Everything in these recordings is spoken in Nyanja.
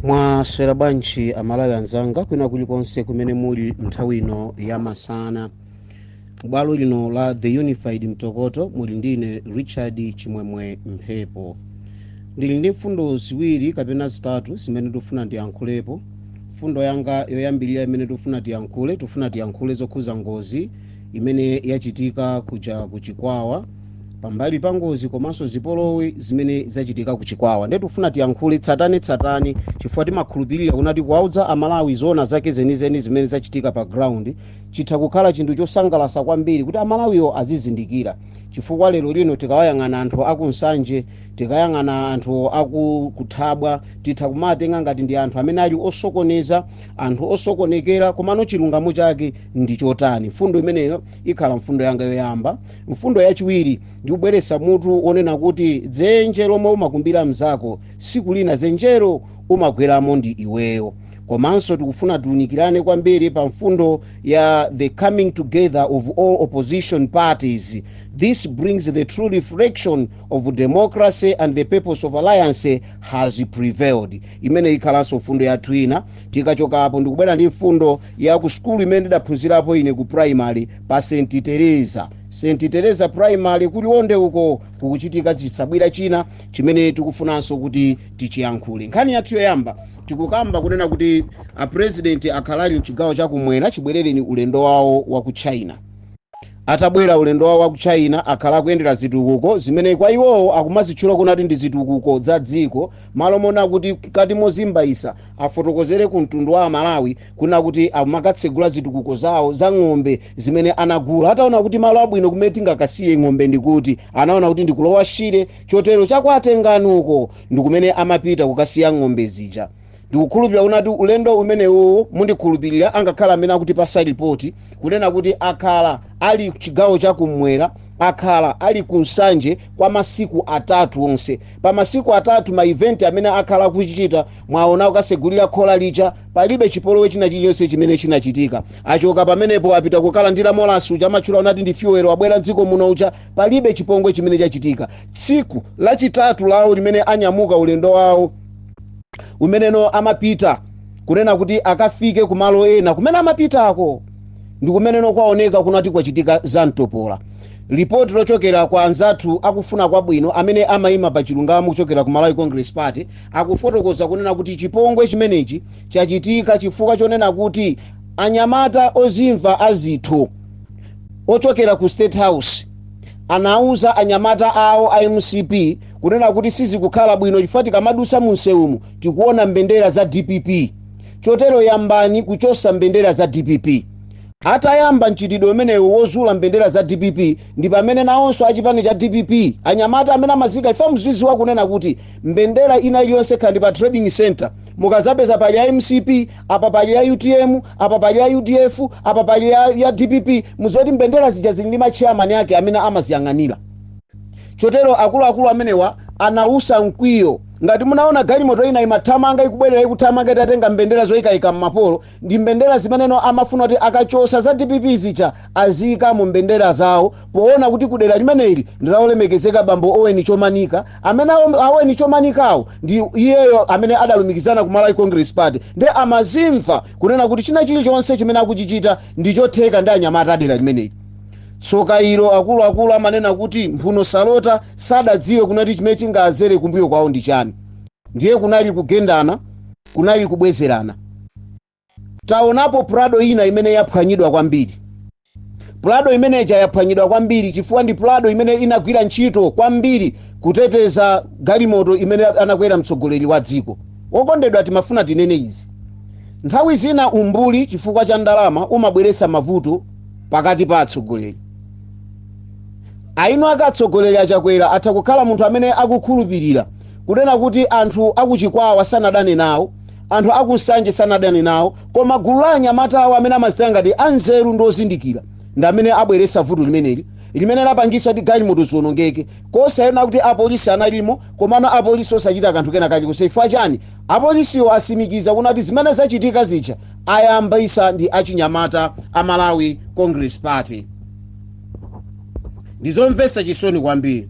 mwaswera bwanji amalawi anzanga kwina kulikonse kumene muli nthawi ino ya masana m'bwalo lino la the unified mtokoto muli ndine richard chimwemwe mphepo ndili ndi mfundo ziwiri kapena zitatu zimene tikufuna tiyankhulepo mfundo yanga yoyambirira imene tikufuna tiyankhule tikufuna tiyankhule zokhuza ngozi imene yachitika kuja kuchikwawa pambali pa ngozi komanso zipolowe zimene zachitika ku chikwawa ndiye tikufuna tiyankhule tsatane tsatane chifukwa timakhulupirira kunati kuwaudza amalawi zoona zake zenizeni zimene zachitika pa ground chitha kukhala chinthu chosangalatsa kwambiri kuti amalawiwo azizindikira chifukwa lero lino tikawayang'ana anthu akunsanje tikayang'ana anthu akuthabwa titha kumawatenga ngati ndi anthu amene ali osokoneza anthu osokonekera komano chilungamo chake ndi chotani mfundo imeneyo ikhala mfundo yanga yoyamba mfundo yachiwiri ndi kubweretsa mutu wonena kuti dzenje lomwe umakumbira mnzako siku lina dzenjelo umagweramo ndi iweyo komanso tikufuna tiunikirane kwambiri pa mfundo ya the coming together of all opposition parties this brings the true reflection of democracy and the purpose of alliance has prevailed imene ikhalanso mfundo yathu ina tikachoka apo ndikubwera ndi mfundo ya ku sukulu imene ndidaphunzirapo ine ku primary pa st teresa st teresa primary ku liwonde uko kukuchitika chitsabwira china chimene tikufunanso kuti tichiyankhule nkhani yathu yoyamba tikukamba kunena kuti apurezidenti akhala ali mchigawo chakumwera chibwerereni ulendo wawo wa ku china atabwera ulendo wawo wa ku china akhala akuyendera zitukuko zimene kwa iwowo akumazitchula kunati ndi zitukuko za dziko malo monena kuti mkati mozimbayisa afotokozere ku mtundu wa amalawi kunena kuti amakatsegula zitukuko zawo za ng'ombe zimene anagula ataona kuti malo abwino kumene tingakasiye ng'ombe ndikuti anaona kuti ndi ku lower shire chotero chakwatenganuko ndikumene amapita kukasiya ng'ombe zija ndikukhulupirira kunati ulendo umenewo mundikhulupirira angakhala amene akutipatsa ripoti kunena kuti akhala ali chigawo chakumwera akhala ali ku nsanje kwa masiku atatu onse pa masiku atatu ma event amene akhala akuchitika Mwaona, kukatsegulira khola lija, palibe chipolowe china chilichonse chimene chinachitika. Achoka pamenepo apita kukalandira molasi uja amatchula kunati ndi fyuwero, wabwera mdziko muno uja, palibe chipongwe chimene chachitika. Tsiku lachitatu lawo limene anyamuka ulendo wawo umeneno amapita kunena kuti akafike kumalo ena kumene amapitako ndi kumeneno kwaoneka kunati kwachitika za mtopola lipoti lochokera kwa anzathu akufuna kwabwino amene amayima pa chilungamo kuchokera ku malawi congress party akufotokoza kunena kuti chipongwe chimenechi chachitika chifukwa chonena kuti anyamata ozimva zitho ochokera ku state house anauza anyamata awo a mcp kunena kuti sizikukhala bwino chifukwa tikamadusa mu msewumu tikuona mbendera za dpp chotero yambani kuchosa mbendera za dpp atayamba mchitidwe umenewo wozula mbendera za dpp ndi pamene nawonso achipani cha dpp anyamata amene amazika ife muziziwa kunena kuti mbendera ina iliyonse kaya ndi pa trading center mukazapeza pali ya mcp apa pali ya utm apa pali ya udf apa pali ya dpp muziziwa kuti mbendera zija zili ndi matcheyamani ake amene amaziyang'anira chotero akuluakulu amenewa anautsa mkwiyo ngati munaona galimoto ina imathamanga ikubwerera ikuthamanga itatenga mbendera zoyikayika m'mapolo ndi mbendera zimenezo amafuna kuti akachosa za dpp zija aziyika mo mbendera zawo poona kuti kudera limeneli ndi la olemekezeka bambo owen chomanika amene a owen chomanikawo ndi iyeyo amene adalumikizana ku malawi congress party nde amazimva kunena kuti china chilichonse chimene akuchichita ndi chotheka ndi anyamata adera limeneli tsoka ilo akuluakulu amanena kuti mphuno salota sadadziwe kunena kuti chimene chingazere kumbuyo kwawo ndi chani ndiye kunali kugendana kunali kubwezerana. Taonapo Prado ina imene yaphwanyidwa kwambiri. Prado imene ija yaphwanyidwa kwambiri chifukwa ndi Prado imene inagwira ntchito kwambiri kuteteza galimoto imene anakwera mtsogoleri wa dziko. Okondedwa timafuna tinene izi. Nthawi zina umbuli chifukwa cha ndalama umabweretsa mavuto pakati pa atsogoleri. Eni ake atsogoleri a Chakwera atha kukhala munthu amene akukhulupirira Kunena kuti anthu a ku Chikwawa sanadane nawo, anthu a ku Nsanje sanadane nawo, koma gulu la anyamata awo amene amazitenga ngati anzeru ndi ozindikira ndi amene abweretsa vuto limeneli limene lapangitsa kuti galimoto zionongeke kusanena kuti apolisi analimo komano apolisi osachita kanthu kena kalikonse chifukwa chani apolisiwo asimikiza kunena kuti zimene zachitika zija ayambisa ndi achinyamata a malawi congress party ndizomvetsa chisoni kwambiri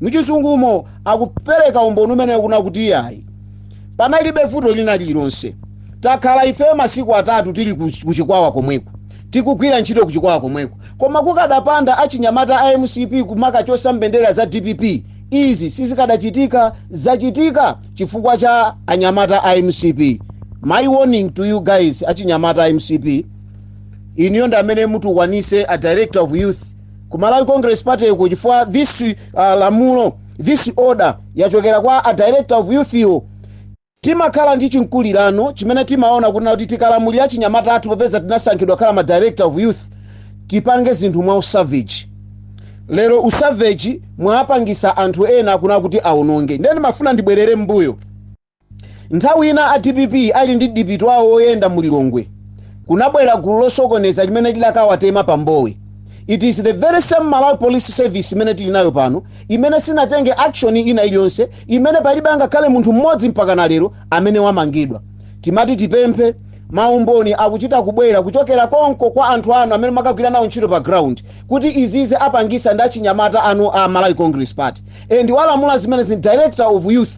muchizungumo akupereka umboni umenewo kunena kuti iyayi panalibe vuto lina lililonse takhala ifeyo masiku atatu tili kuchikwawa komweko tikugwira ntchito kuchikwawa komweko koma kukadapanda achinyamata a mcp kumakachosa mbendera za dpp izi sizikadachitika zachitika chifukwa cha anyamata a mcp my warning to you guys achinyamata a mcp inuyo ndi amene mutukwanise a director of youth ku malawi congress party uko chifukwa this uh, lamulo this order yachokera kwa a director of youth yo timakhala ndi chikhulupiriro chimene timaona kunena kuti tikalamulira achinyamata athu popeza tinasankhidwa kukhala ma director of youth tipange zinthu mwa usavage lero usavage mwapangisa anthu ena akuna kuti aononge nde ndimafuna ndibwerere mbuyo Nthawi ina a dpp ali ndi dipiti wawo woyenda mu Lilongwe, kunabwera gulu losokoneza limene lidakawatema pa Mbowe. It is the very same Malawi Police Service imene tili nayo pano imene sinatenge action ina iliyonse imene palibe angakhale munthu mmodzi mpakana lero amene wamangidwa. Timati tipemphe maumboni akuchita kubwera kuchokera konko kwa anthu anu amene mwakagwira nawo ntchito pa ground kuti izizi apangisa ndi achinyamata anu a Malawi Congress Party and walamula zimenezi ndi director of youth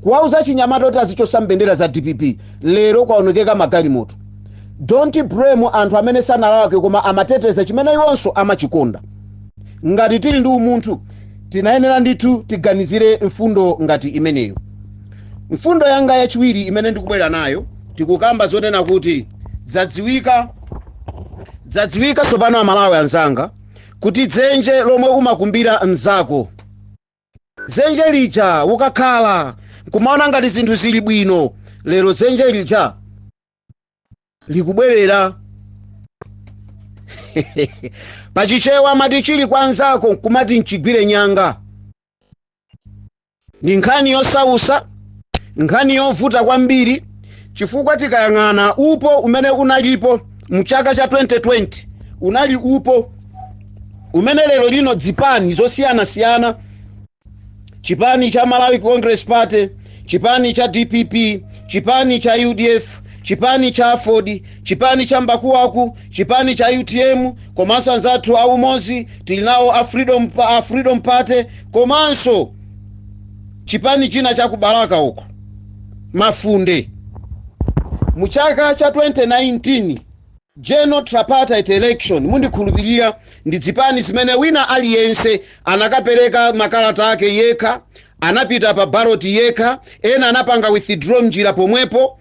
kuwauza achinyamata kuti azichosa mbendera za dpp lero kwaonongeka magalimoto don't blame anthu amene sanalakwe koma amateteza chimene iwonso amachikonda ngati tili ndi umunthu tinayenera ndithu tiganizire mfundo ngati imeneyo mfundo yanga yachiwiri imene ndikubwera nayo tikukamba zonena kuti zadziwika tsopano amalawi anzanga kuti dzenje lomwe umakumbira mzako dzenje lija ukakhala nkumaona ngati zinthu zili bwino lero dzenje lija likubwerera pachichewa amati chili kwa nzako nkumati nchigwire nyanga ndi nkhani yosausa nkhani yovuta kwambiri chifukwa tikayang'ana upo umene unalipo mu chaka cha 2020 unali upo umene lero lino dzipani zosiyanasiyana chipani cha malawi congress party chipani cha dpp chipani cha udf chipani cha aford chipani cha mbakuwaku chipani cha utm komanso anzathu a umozi tili nawo a freedom party komanso chipani china cha ku Balaka uko mafunde mu chaka cha 2019 General tripartite election ndikhulupilira ndi dzipani zimene wina aliyense anakapeleka makalata ake yekha, anapita pa ballot yekha, ena anapanga withdraw mnjira pomwepo,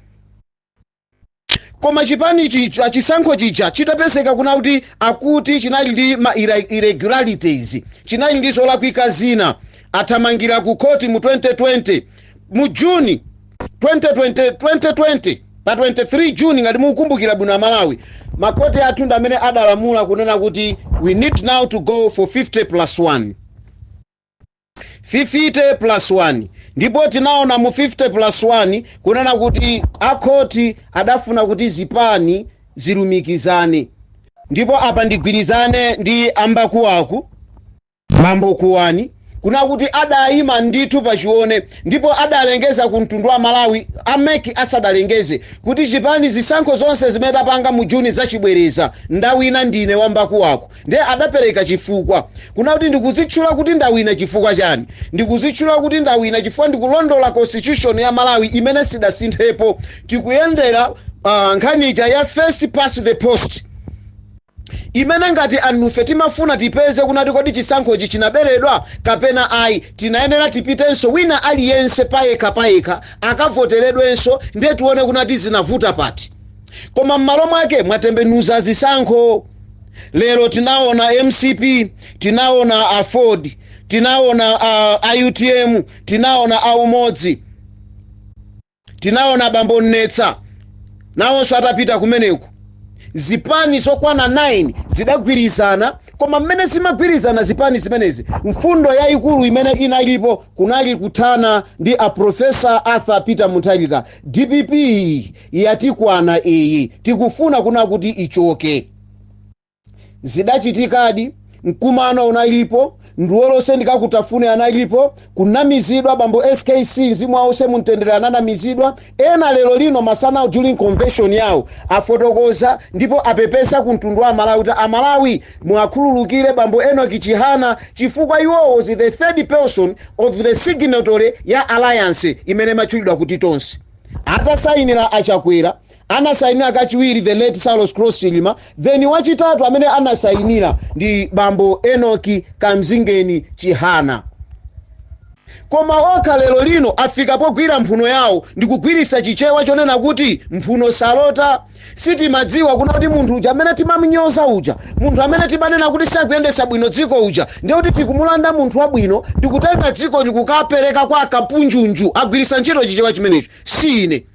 koma chipani chija chisankho chija chitapezeka kunena kuti akuti chinali ndi ma irregularities, chinali ndi zolakwika zina, anathamangira ku court mu 2020, mu June 2020, Pa 23 June ngati mukukumbukira bwino a Malawi, ma court athu ndi amene adalamula kunena kuti we need now to go for 50 plus 1. 50 plus 1 ndipo tinaona mu 50 plus 1 kunena kuti a court adafuna kuti zipani zilumikizane ndipo apa ndigwirizane ndi ambakuwaku Bambo Kuwani kunena kuti adayima ndithu pachione ndipo adalengeza ku mtundu wa Malawi a mec asadalengeze kuti chipani zisankho zonse zimene tapanga mu June zachibwereza ndawina ndine wambakuwaku ndiye adapereka chifukwa kunena kuti ndikuzitchula kuti ndawina chifukwa chani ndikuzitchula kuti ndawina chifukwa ndikulondola constitution ya Malawi imene sidasinthepo tikuyendera ah, nkhani ija ya first past the post imene ngati anufe timafuna tipeze kunena kuti kodi chisankhochi chinaberedwa kapena ayi tinayenera tipitenso wina aliyense payekha payekha akavoteredwenso ndiye tione kunena kuti zinavuta pati koma m'malo mwake mwatembenuza zisankho lero tinaona mcp tinaona aford tinaona a, a utm tinaona a umodzi tinaona bambo mnesa nawonso atapita kumeneko zipani zokwana 9 zidagwirizana koma mmene zimagwirizana zipani zimenezi mfundo yayikulu imene inalipo kunali kuthana ndi a profesa arthur peter mutharika dpp yatikwana iyi tikufuna kunena kuti ichoke zidachitikadi mkumano unalipo nduwolose ndikakutafune analipo kunamizidwa bambo skc mzimu wawuse mumtendere ananamizidwa ena lero lino masanawu during convention yawo afotokoza ndipo apepesa ku mtundu wa amalawi kuti amalawi muwakhululukire bambo enock chihana chifukwa iwo was the third person of the signatory ya alliance imene imatchulidwa kuti tonse atasainira achakwera Anasainira kachiwiri the late Saulos Klaus Chilima then wachitatu amene anasainira ndi bambo Enock Kamzingeni Chihana. Koma okha lero lino afika pogwira mphuno yawo ndikugwiritsa chichewa chonena kuti mphuno salota. Sitimadziwa kunena kuti munthu uja amene timamunyoza uja, munthu amene timanena kuti sakuyendetsa bwino dziko uja, ndiye kuti tikumulanda munthu wabwino ndikutenga dziko ndikukapereka kwa akapunjunju agwiritsa ntchito chichewa chimenecho. Si ine.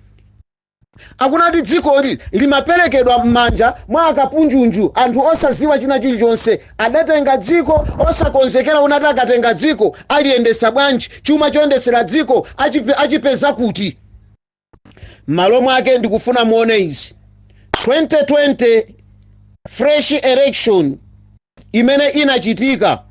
Akunena kuti dzikoli limaperekedwa m'manja mwa akapunjunju, anthu osaziwa china chilichonse. Adatenga dziko osakonzekera kunena kuti akatenga dziko aliyendesa bwanji, chuma choyendesera dziko achipeza kuti. M'malo mwake ndikufuna muone izi 2020 fresh election imene inachitika.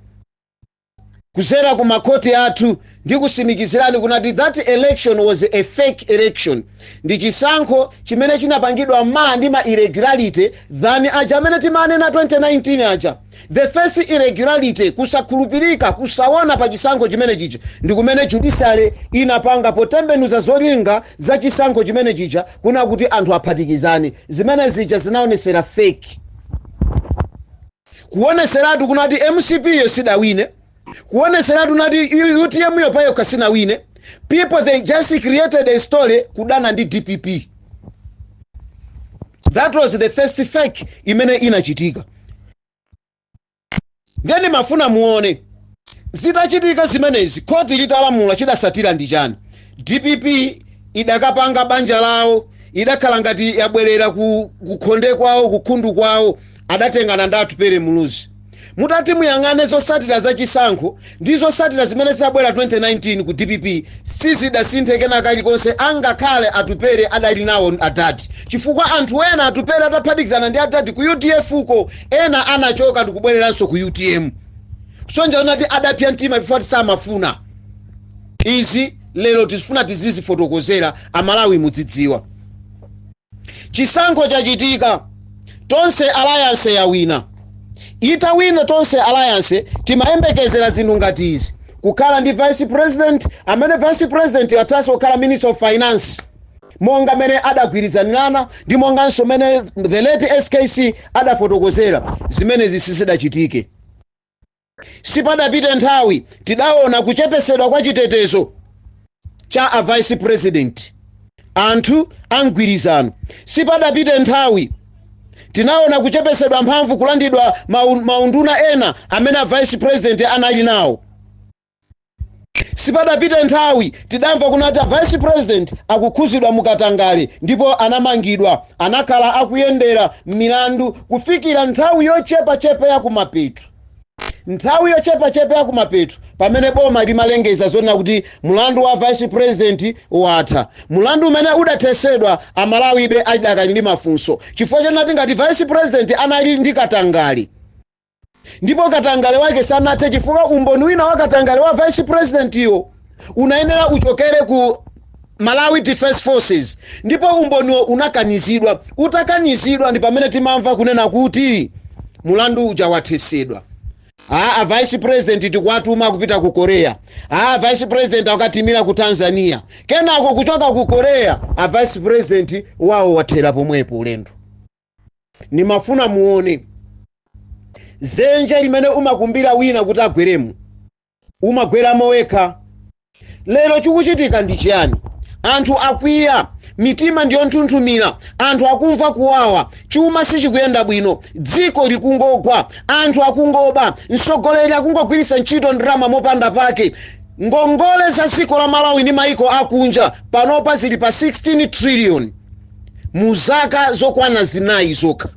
kuzera ku makhoti athu ndikusimikizirani kunati that election was a fake election ndi chisankho chimene chinapangidwa maa ndi ma irregularity kuposa aja aja amene timanena 2019 aja the first irregularity kusakhulupirika kusaona pa chisankho chimene chija ndi kumene judiciary inapanga potembenuza zolinga za chisankho chimene chija kuna kuti anthu aphatikizane zimene zija zinaonesera fake Kuoneseratu kunati mcp yo sidawine, kuoneseratu nati utm yo payokha sinawine, people they just created a story kudana ndi dpp. That was the first fake imene inachitika. Ndiye ndimafuna muone Zitachitika zimenezi khoti litalamula chidasatira ndi chani? Dpp idakapanga banja lawo idakhala ngati yabwerera ku khonde kwawo ku khundu kwawo adatengana ndi Atupele Muluzi. Mutati muyang'ane zosatira za chisankho ndi zosatira zimene zidabwera 2019 ku dpp sizidasinthe kena kalikonse angakhale Atupele adali nawo adadi chifukwa anthu ena Atupele ataphatikizana ndi adadi ku udf ko ena anachoka ndikubwereranso ku utm. Kusonyeza kunati adapsa mtima chifukwa kuti samafuna. Izi lero tizifuna tizizifotokozera Amalawi mudzidziwa. Chisankho chachitika. Tonse Alliance yawina. Itawina Tonse Alliance timayembekezera zinthu ngati izi, kukhala ndi Vice President amene Vice President yo athaso kukhala Minister of Finance monga mmene adagwirizanirana ndi monganso mmene the late SKC adafotokozera, zimenezi sizidachitike. Sipadapite nthawi tidaona kuchepesedwa kwa chitetezo cha a Vice President, anthu a mgwirizano. Sipadapite nthawi tinaona kuchepesedwa mphamvu, kulandidwa maunduna ena amene a Vice President anali nawo. sipadapite nthawi tidamva kunati a vice president akukhuzidwa mukatangale ndipo anamangidwa anakhala akuyendera milandu kufikira nthawi yochepachepa ya kumapeto nthawi yochepachepa ya kumapeto pamene boma limalengeza zonena kuti mulandu wa vice president watha mulandu umene udathesedwa Amalawi be adakali ndi mafunso chifukwa chonati ngati vice president anali ndi katangale Ndipo katangale wake sanathe chifukwa umboni wina wa katangale wa vice president yo unayenera uchokere ku Malawi Defense Forces ndipo umboniwo unakanizidwa. Utakanizidwa ndi pamene timamva kunena kuti mulandu uja wathesedwa. A vice president tikuwatuma kupita ku Korea. A vice president akatimira ku Tanzania. Kenako kuchoka ku Korea, a vice president wawo wathera pomwepo ulendo. ndimafuna muone zenje limene umakumbira wina kuti agweremo umagweramo wekha lero chikuchitika ndi chiyani anthu akwiya mitima ndiyonthunthumira anthu akumva kuwawa chuma sichikuyenda bwino dziko likungogwa anthu akungoba mtsogoleri akungogwiritsa ntchito ndalama mopanda pake ngongole za dziko la malawi ndi maiko akunja panopa zili pa 16 trillion mu zaka zokwana zinayi zokha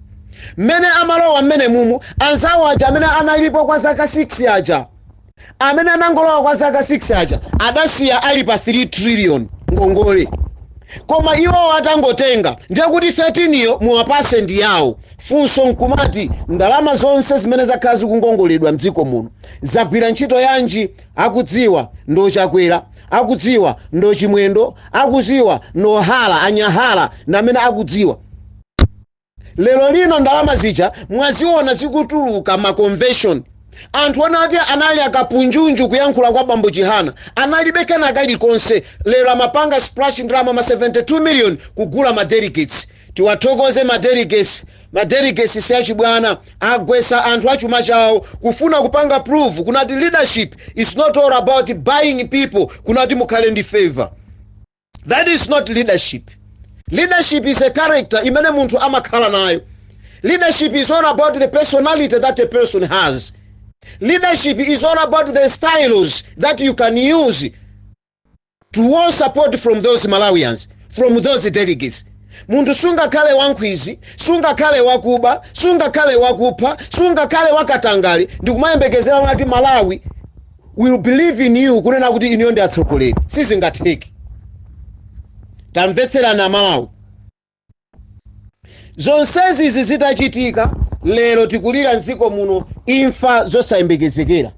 mmene amalowa mmene umu anzawo aja amene analipo kwa zaka 6 aja amene anangolowa kwa zaka 6 aja adasiya ali pa 3 trillion ngongole koma iwowo atangotenga ndiye kuti 13 yo muwapatse ndi yawo funso nkumati ndalama zonse zimene zakhala zikungongoledwa mdziko muno zagwira ntchito yanji Akudziwa ndo chakwera akudziwa ndo chimwendo akudziwa ndo Hara a Nyahara ndi amene akudziwa lero lino ndalama zija mwaziona zikutuluka ma convention anthu onati anali akapunjunju kuyankhula kwa bambo chihana analibe kena kalikonse lero amapanga splash ndalama ma 72 million kugula ma delegates Tiwathokoze ma dele, ma delegates si achibwana, agwetsa anthu achuma chawo kufuna kupanga prove kunati leadership is not all about buying people kunati mukhale ndi favour. That is not leadership. Leadership is a character imene munthu amakhala nayo. Leadership is all about the personality that a person has. Leadership is all about the styles that you can use to woo support from those malawians from those delegates munthu sungakhale wankhwizi sungakhale wakuba sungakhale wakupha sungakhale wakatangale ndikumayembekezera kunati malawi will believe in you kunena kuti inuyo ndi atsogoleri sizingatheke tamvetserani amalawi zonsezi izi zitachitika lero tikulira mdziko muno imfa zosayembekezekera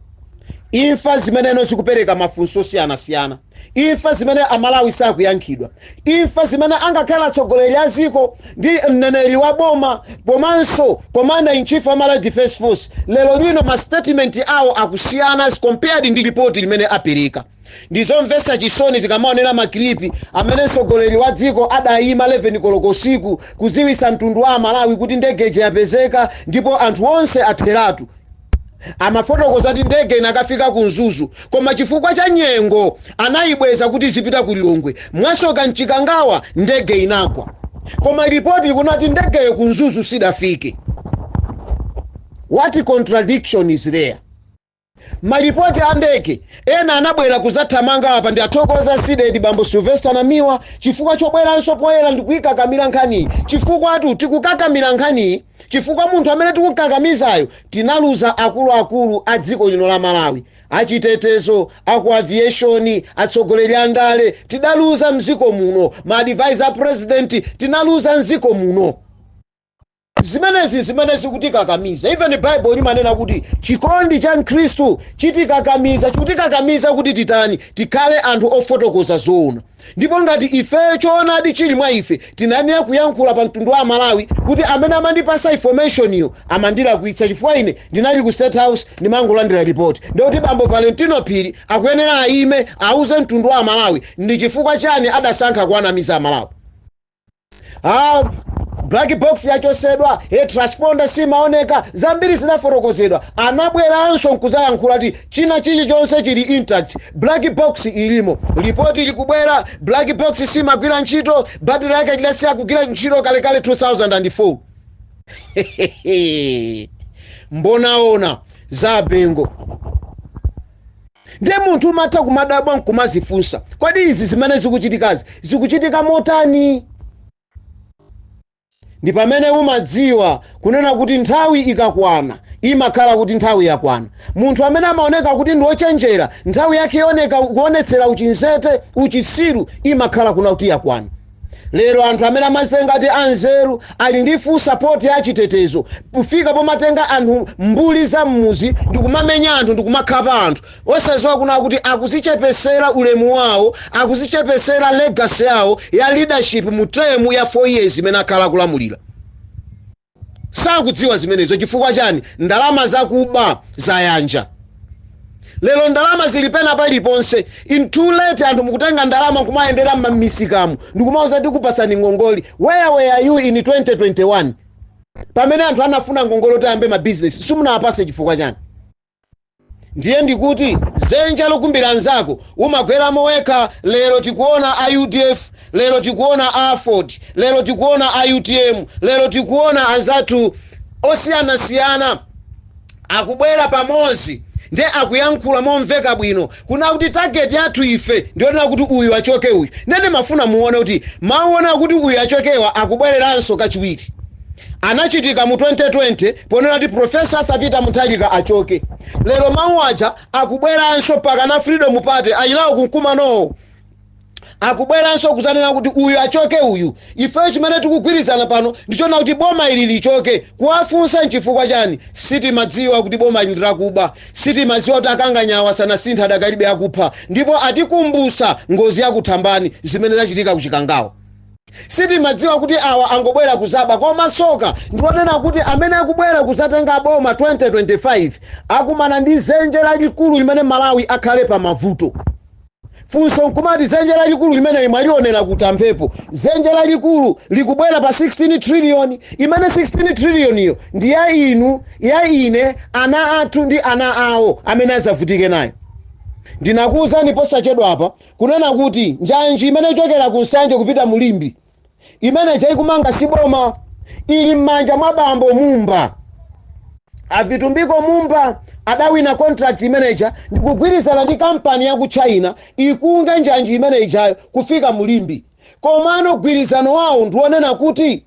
imfa zimene zikupereka mafunso osiyanasiyana imfa zimene amalawi sakuyankhidwa imfa zimene angakhale atsogoleri a dziko ndi mneneri wa boma komanso commander in chief a malawi defense force lero lino ma statement awo akusiyana as compared ndi ripoti limene apereka Ndi zomvetsa chisoni tikamaonera ma clip amene mtsogoleri wa dziko adayima 11 koloko usiku kudziwitsa mtundu wa amalawi kuti ndege ija yapezeka ndipo anthu onse atheratu. Amafotokoza kuti ndege inakafika ku Mzuzu koma chifukwa cha nyengo anayibweza kuti izipita ku Lilongwe. Mwasoka mchikangawa ndege inagwa. Koma report likunena kuti ndegeyo ku Mzuzu sidafike. What contradiction is there? Malipoti andeke ena anabwera kuzathamanga apa ndi athokoza Cdedi bambo Sylvester Namiwa chifukwa chobweranso poyera ndikuikakamira nkhaniyi chifukwatu tikukakamira nkhaniyi chifukwa munthu amene tikukakamizayo tinaluza akuluakulu a dziko lino la Malawi, achitetezo, aku aviation, atsogoleri a ndale tidaluza mziko muno, ma advisor a president tinaluza mziko muno. zimenezi zimene zikutikakamiza even bible limanena kuti chikondi cha khristu chitikakamiza chikutikakamiza kuti titani tikhale anthu ofotokoza zoona ndipo ngati ife choonadi chili mwa ife tinayenera kuyankhula pa mtundu wa amalawi kuti amene amandipasa informationiyo amandilakwitsa chifukwa ine ndinali ku state house ndimangolandira ripoti ndikuti bambo valentino phiri akuyenera ayime auze mtundu wa amalawi ndi chifukwa chani adasankha kuwanamiza amalawi ah, black box yachosedwa e transponder simaoneka zambiri zinafotokozedwa anabweranso nkuzayankhula ati china chilichonse chili intact black box ilimo lipoti likubwera black box simagwira ntchito battery yake lidasiya kugwira ntchito kalekale 2004 mbonaona za abengo Ndiye munthu umatha kumadabwa n'kumadzifunsa, Kodi izi zimene zikuchitikazi zikuchitika motani? Ndi pamene umadziwa kunena kuti nthawi ikakwana, imakhala kuti nthawi yakwana. Munthu amene amaoneka kuti ndi wochenjera, nthawi yake yooneka, kuonetsera uchinzete, uchisiru, imakhala kuna kuti yakwana. lero anthu amene amazitenga ati anzeru ali ndi full support ya chitetezo kufika pomatenga anthu mbuli za mmuzi ndikumamenya anthu ndikumakhapa anthu osaziwa kuna kuti akuzichepesera ulemu wawo akuzichepesera legacy yawo ya leadership mu term ya 4 years imene akhala kulamulira sakudziwa zimenezo chifukwa chani ndalama zakuba zayanja lero ndalama zili pena paliponse ndi too late anthu mukutenga ndalama nkumayendera mmamisikamu ndikumauza tikupasani ngongole where were you in 2021 pamene anthu anafuna ngongole kuti ayambe mabizinesi simunawapase chifukwa chani Ndiye ndikuti zenja lokumbira anzako umagweramo wekha lero tikuona a udf lero tikuona a aford lero tikuona a utm lero tikuona anzathu osiyanasiyana akubwera pamodzi nde akuyankhula momveka bwino Kunena kuti target yathu ife ndiyonena kuti uyu achoke uyu ndiye ndimafuna muone kuti mau onena kuti uyu achokewa akubwereranso kachiwiri anachitika mu 2020 ponena kuti Prof. Arthur Peter Munthalika achoke. Lero mau aja akubweranso mpakana Freedom Party alinawo kumkumanowo. akubweranso kuzanena kuti uyu achoke uyu ifeyo chimene tikugwirizana pano ndichonena kuti boma ili lichoke kuwafunsa nchifukwa chani sitimadziwa kuti boma ili ndirakuba sitimadziwa kuti akanganyawa sanasintha adakalibe akupha ndipo atikumbusa ngozi yakuthambani zimene zachitika kuchikangawa sitimadziwa kuti awa angobwera kuzaba koma soka ndikonena kuti amene akubwera kuzatenga boma 2025 akumana ndi zenje lalikulu limene malawi akhale pa mavuto Funso nkumati dzenje lalikulu limene mwalionera kuti a Mphepo? Dzenje lalikulu likubwera pa 16 trillion, imene 16 trillion yo ndi ya inu, ya ine, ana athu ndi ana awo amene adzavutike nayo. Ndinakuuzani posachedwapa kunena kuti njanji imene ichokera ku Nsanje kupita mu Limbe imene ija akumanga si boma ili m'manja mwa bambo mumba avitumbiko mumba adawina contract imene ija ndikugwirizana ndi kampani ya ku china ikonze njanji imene ijayo kufika mu limbe komano gwirizano wawo ndiwonena kuti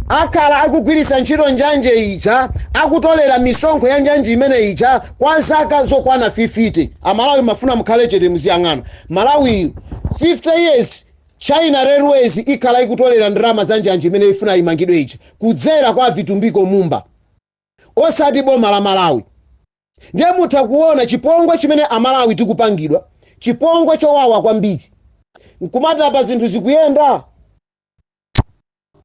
akhala akugwiritsa ntchito njanji ija akutolera misonkho ya njanji imene ija kwa zaka zokwana 50 amalawi mufuna mukhale chete muziyang'ana malawiyu 50 years China railways ikhala ikutolera ndalama za njanji imene ifuna imangidwe ija kudzera kwa avitumbiko mumba osati boma la Malawi ndiye mutha kuona chipongwe chimene amalawi tikupangidwa chipongwe chowawa kwambiri nkumati apa zinthu zikuyenda?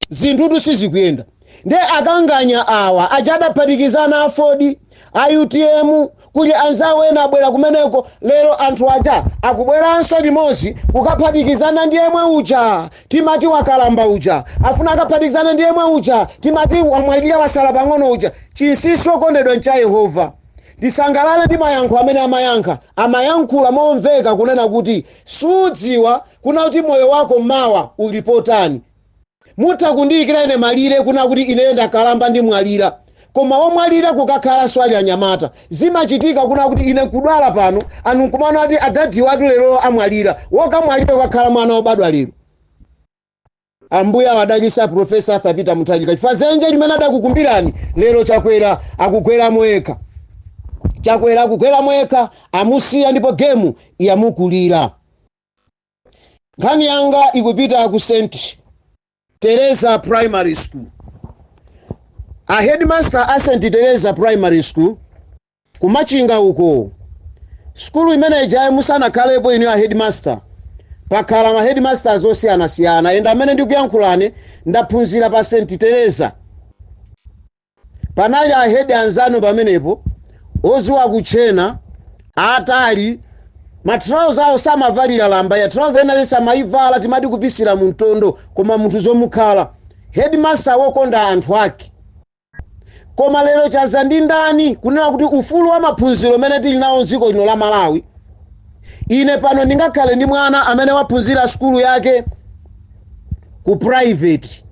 zinthutu sizikuyenda nde akanganyawa aja adaphatikizana aford a utm kuli anzawo ena abwera kumeneko lero anthu aja akubweranso limodzi kukaphatikizana ndi yemwe uja timati wakalamba uja afuna akaphatikizane ndi yemwe uja timati amwalira wasala pang'ono uja chinsinsi okondedwa ncha yehova ndisangalale ndi mayankho amene amayankha amayankhula momveka kunena kuti sudziwa kuna kuti moyo wako mawa uli bwanji mutha kundiyikira ine malire kuna kuti ineyo ndakalamba ndimwalira koma womwalira kukakhala shuwa anyamata zimachitika kuna kuti ine nkudwala pano ana nkumanena kuti adadi awatu lero amwalira wokumwalira kukakhala mwana wobadwa lero Ambuye awadalitse a Professor Arthur Peter Mutharika chifukwa zenje limene adakukumbirani lero Chakwera akugweramo yekha. Chakwera akugweramo yekha amusiya ndipo gemu yamukulira. Nkhani yanga ikupita ku St Teresa Primary School. A headmaster a St Teresa Primary School Ku Machinga uko. Sukulu imene ijayo musanakhalepo inu a headmaster. Pakhala ma headmasters osiyanasiyana and amene ndikuyankhulane ndaphunzira pa St. Teresa. Panali a head anzanu pamenepo odziwa kutchena atali ma trouser awo samavalira lamba ya trouser ena onse amayivala timati kupisira mu mtondo koma munthu zomukhala headmaster wokonda anthu ake Koma lero chadza ndi yani kunena kuti ufulu wa maphunziro umene tili nawo m'dziko lino la Malawi, ine pano ndingakhale ndi mwana amene waphunzira sukulu yake ku private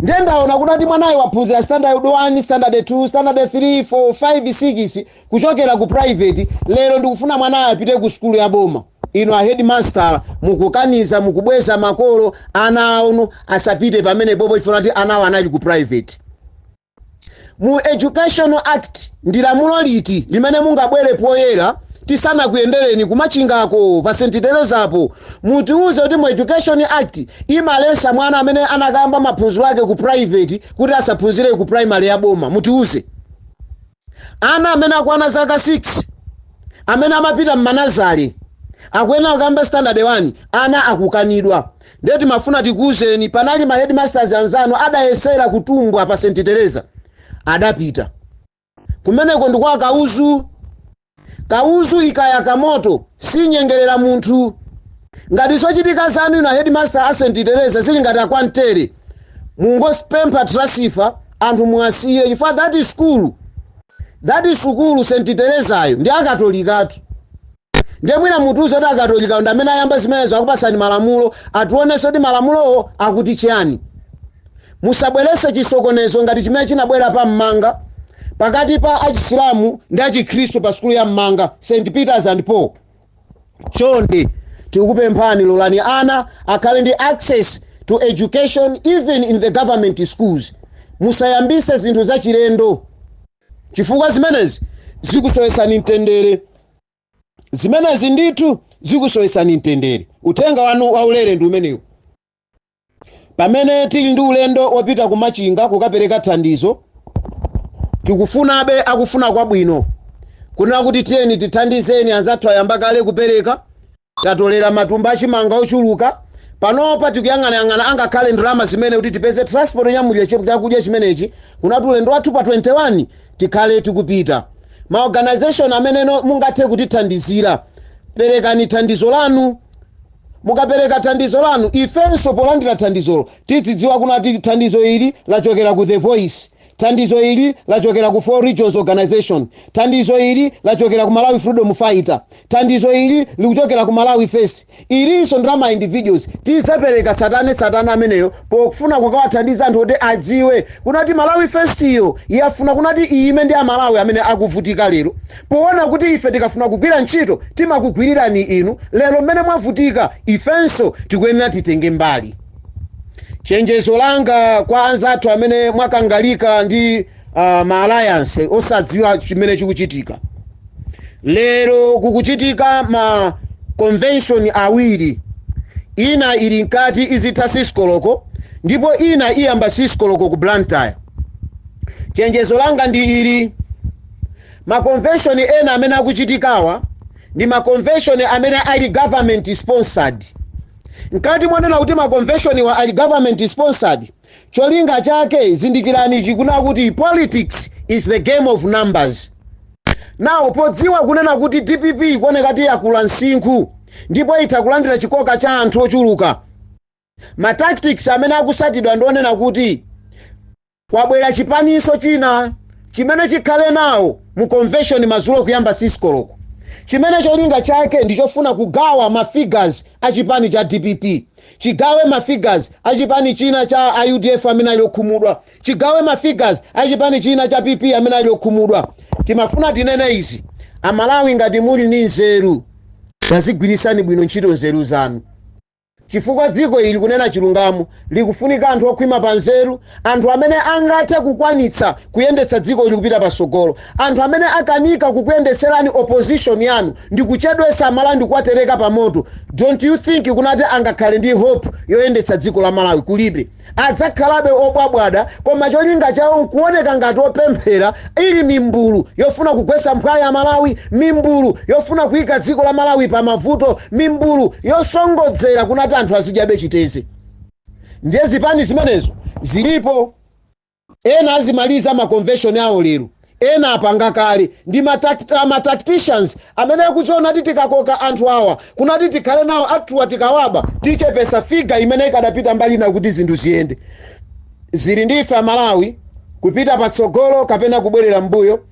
ndiye ndaona kuti mwanayo waphunzira standard 1 standard 2 standard 3 4 5 6 kuchokera ku private lero ndikufuna mwanayo apite ku sukulu ya boma inu a headmaster mukukaniza mukubweza makolo ana awo asapite pamenepopo chifukwa kuti anawo anali ku private mu educational act ndi lamulo liti limene mungabwere poyera tisanakuyendereni kumachingako pa st terezapo mutiuze kuti mu education act imaletsa mwana amene anakayamba maphunziro ake ku private kuti asaphunzire ku primary ya boma mutiuze ana amene akwana zaka 6 amene amapita mmanazale akuyenera kuyamba standard 1 ana akukanidwa ndiye timafuna tikuwuzeni panali ma headmasters anzanu adayesera kutumbwa pa st teresa adapita kumeneko ndikwa kauzu Kauzu ikayaka moto sinyengerera munthu. Ngati zochitika zanu inu a Headmaster a St Tereza zili ngati akwantere, mungozipempha transfer anthu muwasiyire chifukwa that school, that sukulu St Terezayo ndi a Katolikatu. Ndiye mwina mutiuze kuti a Katolikawo ndi amene ayamba zimenezo akupatsani malamulo, ationetse kuti malamulowo akuti chiyani. Musabweretse chisokonezo ngati chimene chinabwera pa m'manga pakati pa achisilamu ndi achikhristu pa sukulu ya m'manga St Peters and Paul. Chonde tikupemphani lolani ana akhale ndi access to education even in the government schools. Musayambise zinthu zachilendo chifukwa zimenezi zikusowetsani mtendere. Zimenezi ndithu zikusowetsani mtendere. Uthenga wanu waulere ndi umenewu. Pamene tili ndi ulendo wopita ku Machinga kukapereka thandizo, tikufunabe akufuna kwabwino kunena kuti tiyeni tithandizeni, anzathu ayamba kale kupereka, tatolera matumba a chimanga ochuluka. Panopa tikuyang'anayang'ana angakhale ndalama zimene kuti tipeze transport yonyamulira chi- chakudya chimenechi kunena kuti ulendo wathu pa 21 tikhale tikupita. Ma organization amene mungathe kutithandizira, perekani thandizo lanu. Mukapereka thandizo lanu, ifenso polandira thandizolo tidzidziwa kunati thandizo ili lachokera ku The Voice, thandizo ili lachokera ku Four Regions Organisation, thandizo ili lachokera ku Malawi Freedom Fighter, thandizo ili likuchokera ku Malawi First. Ilinso ndi la ma individuals tidzapereka tsatane tsatane ameneyo pokufuna kukawathandiza anthu kuti adziwe kunati Malawi First yo yafuna kunati iyime ndi a Malawi amene akuvutika lero. Poona kuti ife tikafuna kugwira ntchito timakugwirirani inu, lero mmene mwavutika, ifenso tikuyenera titenge mbali. Chenjezo langa kwa anzathu amene mwakangalika ndi ma alliance osadziwa chimene chikuchitika lero kukuchitika ma convention awiri ina ili mkati izitha siskoloko ndipo ina iyamba siskoloko ku blantyre chenjezo langa ndi ili Makonveshoni ena amene akuchitikawa ndi makonveshoni amene ali government sponsored. Mkati monena kuti makonveshoniwa ali government sponsored, cholinga chake zindikirani ichi kunena kuti politics is the game of numbers. Now podziwa kunena kuti dpp ikuoneka kuti yakula msinkhu ndipo itha kulandira chikoka cha anthu ochuluka, Ma tactics amene akusatidwa ndi onena kuti kwabwera chipaninso china chimene chikhale nawo mu convention madzulo kuyamba siskoloko chimene cholinga chake ndichofuna kugawa ma figures a chipani cha dpp chigawe ma figures a chipani china cha a udf amene ali okhumudwa chigawe ma figures a chipani china cha pp amene ali okhumudwa timafuna tinene izi amalawi ngati muli ndi nzeru tazigwirisani bwino ntchito nzeru zanu Chifukwa dziko ili kunena chilungamo likufunika anthu okhwima pa nzeru, anthu amene angathe kukwanitsa kuyendetsa dziko ili kupita patsogolo. Anthu amene akanika kukuyendetserani opposition yanu ndikuchedwetsa amalawi ndikuwatereka pa moto, don't you think kunati angakhale ndi hope yoyendetsa dziko la malawi? Kulibe. adzakhalabe obwabwada koma cholinga chawo kuoneka ngati opemphera ili mimbulu yofuna kugwesa mphwayi a Malawi, mimbulu yofuna kuika dziko la Malawi pa mavuto, mimbulu yosongodzera kunati anthu azidyabe chiteze. Ndiye zipani zimenezo zilipo. Ena azimaliza ma convention awo lero, ena apanga kale, ndi ma tacticians amene akudziona ati tikakoka anthu awa kunati tikhale nawo athuwa tikawaba tichepesa figure imene ikadapita mbali ina kuti zinthu ziyende. Zili ndi ife a Malawi kupita patsogolo kapena kubwerera mmbuyo.